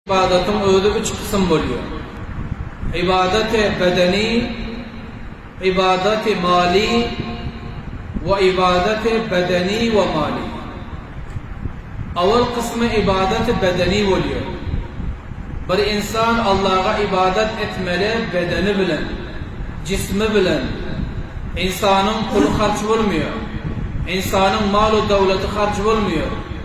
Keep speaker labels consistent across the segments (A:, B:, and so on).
A: Ybadatyň özi üç kysym bolýar. Ybadaty bedeni, ybadaty maly we ybadaty bedeni we maly. Owal kysmy ybadaty bedeni bolýar. Bir ynsan Allaha ybadat etmeli bedeni bilen, jismi bilen. Ynsanyň puly harç bolmaýar. Ynsanyň mal-u döwleti harç bolmaýar.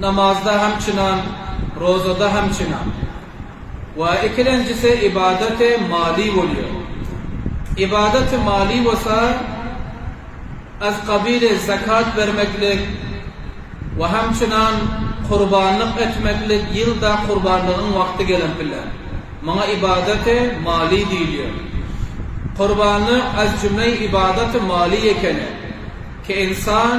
A: Namazda hem çynan, rozada hem çynan. We ikilenjisi ybadat-y mali bolýar. Ybadat-y mali bolsa, az kabili zakat bermeklik we hem çynan kurbanlyk etmeklik ýylda kurbanlygyň wagty gelen pille. Muňa ybadat-y mali diýilýär. Kurbanlyk az jümle-i ybadat-y mali ekeni. Ki insan.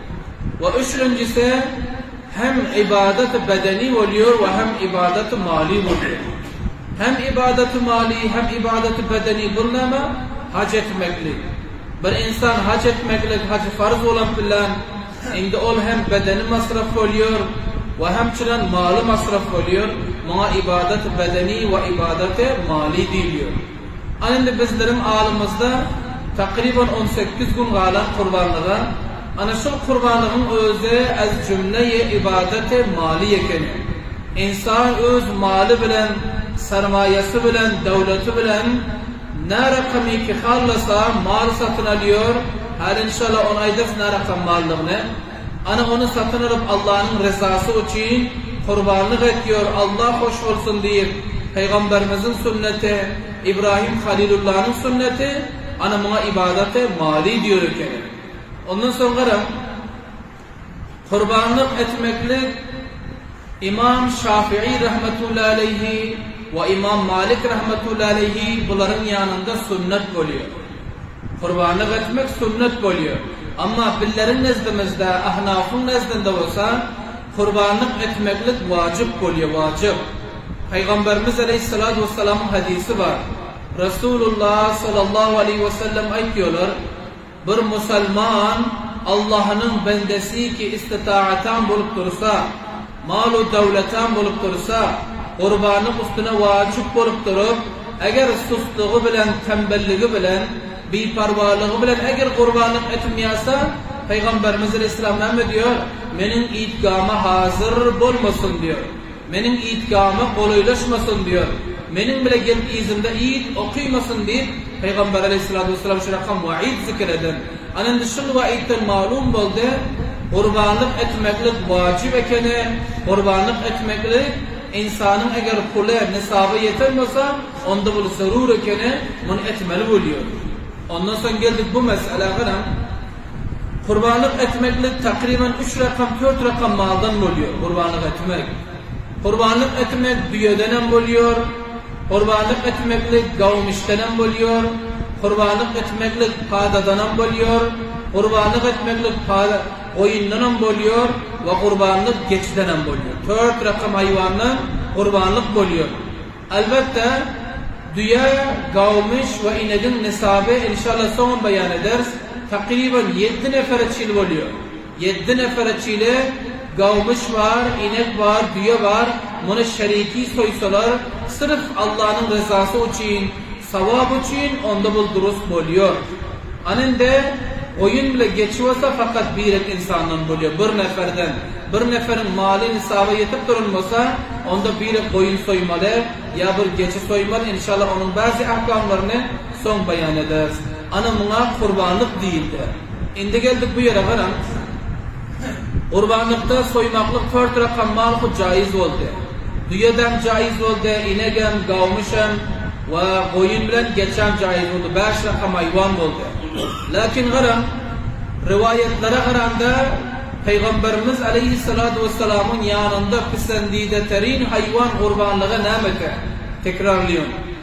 A: We üçünjisi hem ibadaty bedeni bolýar we hem ibadaty mali bolýar. Hem ibadaty mali hem ibadaty bedeni bul näme? Haj etmeklik. Bir insan haj etmeklik hajy farz bolan bilen indi ol hem bedeni masraf bolýar we hem çiren maly masraf bolýar. Muňa ibadaty bedeni we ibadaty mali diýilýär. A indi bizleriň alymyzda takryban on sekiz gün galan kurbanlyga, ana şul kurbanlygyň özi ez jümle ye ibadati mali eken. Insan öz maly bilen, sarmaýasy bilen, döwleti bilen närakamiki hallasa mal satyn alýor, häli inşallah ony aýdarys närakam maldygyny. Ana ony satyn alyp Allanyň ryzasy üçin kurbanlyk et ýör Allah hoş bolsun diýip Pygamberimiziň sünneti Ibrahim Halilullanyň sünneti ana muňa ibadate mali diýer ekeni ondan soň garaň kurbanlyk etmeklik Imam Şafii rahmetullahi aleýhi we Imam Malik rahmetullahi aleýhi bularyň ýanynda sünnet bolýar. Gurbanlyk etmek sünnet bolýar. Emma billeriň nezdimizde, Ahnawyň nezdinde bolsa gurbanlyk etmeklik wajyp bolýar, wajyp. Pygamberimiz aleýhissalatu wessalamyň hadysy bar. Resulullah sallallahu aleýhi wesellem aýtýarlar, Bir musalman Allahynyň bendesiki istitaatan bolup dursa, Mal-u döwletem bolup dursa, gurbanyň üstüne wajyp bolup durup, eger sustlugy bilen, tembelligi bilen, biparwalygy bilen eger gurbanlyk etmýärse, Pygamberimiz aleyhisselam näme diýer, Meniň idgama hazyr bolmasyn diýer, Meniň idgama golaýlaşmasyn diýer, Meniň bile gelip yzymda id okymasyn diýip, Pygamber aleyhissalatu wesselam şu rakam waid zikir eden. Ana indi şu rowaýatdan malum boldy, gurbanlyk etmeklik wajyp ekeni, gurbanlyk etmeklik ynsanyň eger puly nisaba ýeten bolsa, onda bul zerur ekeni, muny etmeli bolýar. Ondan soň geldik bu meselä, garaň, gurbanlyk etmeklik takryban üç rakam, dört rakam maldan bolýar, gurbanlyk etmek. Gurbanlyk etmek düýedenem bolýar. Gurbanlyk etmeklik gawmyşdanam bolýar, gurbanlyk etmeklik padadanam bolýar, gurbanlyk etmeklik pada, goýundanam bolýar we gurbanlyk geçidenem bolýar. Tört rakam haýwandan gurbanlyk bolýar. Albatta, düýe, gawmyş we inegiň nysaby, enşalla, soňam baýan ederis, takyban ýedi nefere çil bolýar. Ýeddi nefere çili gawmyş bar, inek bar, düýe bar, muny şeriki soýsalar, syrf Allanyň ryzasy üçin, sawap üçin, onda bul durus bolýar. Ana indi, goýun bile geçip bolsa fakat birek insandan bolýar, bir neferden. Bir neferiň maly nisaba ýetip duran bolsa, onda birek goýun soýmaly, ýa bir geçi soýmaly, inşallah onuň bazi ahkamlaryny soň baýan ederis. Ana muňa gurbanlyk diýildi. Indi geldik bu ýere garaň. Gurbanlykda soýmaklyk tört rakam mal hut jaýyz boldy. Düýedäm jaýyz boldy, inegem, gawmyşam we goýun bilen geçäm jaýyz boldy, bäş rakam aýwan boldy. Lakin garaň, riwaýatlara garanda, Pygamberimiz aleýhissalatu wessalamyň ýanynda pisendide terin haýwan gurbanlygy näme eken? Tekrarlaýyn.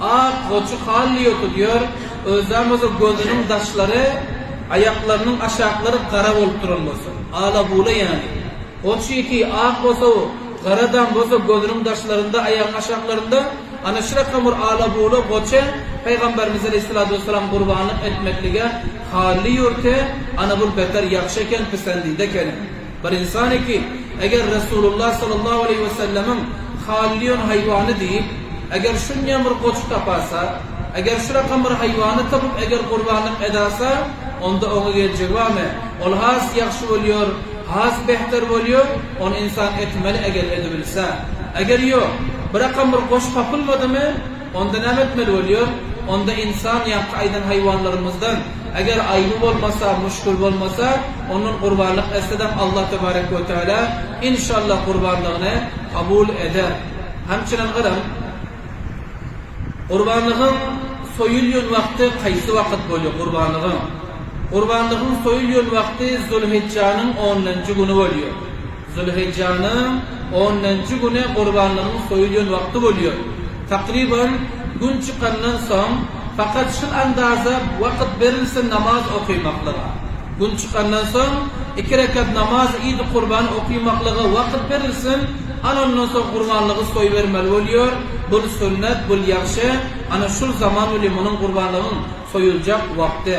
A: Ak goçy hally ýotulyar, özem bolsa gözüniň daşlary, aýaklarynyň aşaklary gara bolup duran bolsa, ala-bula ýaly. Goç ýiti ak bolsa, garadam bolsa gözüniň daşlarynda, aýagyň aşaklarynda ana şu rakam bir ala-bula goça Pygamberimiz aleýhissalatu wessalam gurbanlyk etmeklige hally ýörte, ana bul beter ýagşy eken, pisendide eken. Bir insan eki, eger Resulullah sallallahu aleýhi we sellemiň Halliýun haýwany diýip, eger şunýan bir goçy tapasa, eger şu rakam bir haýwany tapyp eger gurbanlyk edasa, onda oňa geljegi barmy? Ol has ýagşy bolýar, has behter bolýar, ony insan etmeli eger edibilse. Eger ýok, bir rakam bir goç tapylmadymy? Onda näme etmeli bolýar? Onda ynsan ýaňky aýdan haýwanlarymyzdan, eger aýby bolmasa, muşkul bolmasa, ondan gurbanlyk etsedem Allah tebarek we teala, inşallah, gurbanlygyny kabul eder. Hem çunem garaň, gurbanlygyň soýulýan wagty haýsy wagyt bolýar? Gurbanlygyň Gurbanlygyň soýulýan wagty Zulhijjanyň ondanjy güni bolýar. Zülhijjanyň onunjy güni gurbanlygyň soýulýan wagty bolýar. Takryban, gün çykandan soň, fakat şul andaza wakyt berilse namaz okymaklyga. Gün çykandan soň, iki rekat namaz idi kurban okymaklyga wakyt berilsin, ana ondan soň gurbanlygy soýbermeli bolýar, bul sünnet, bul ýagşy, ana şul zaman bilen munuň gurbanlygyň soýuljak wagty.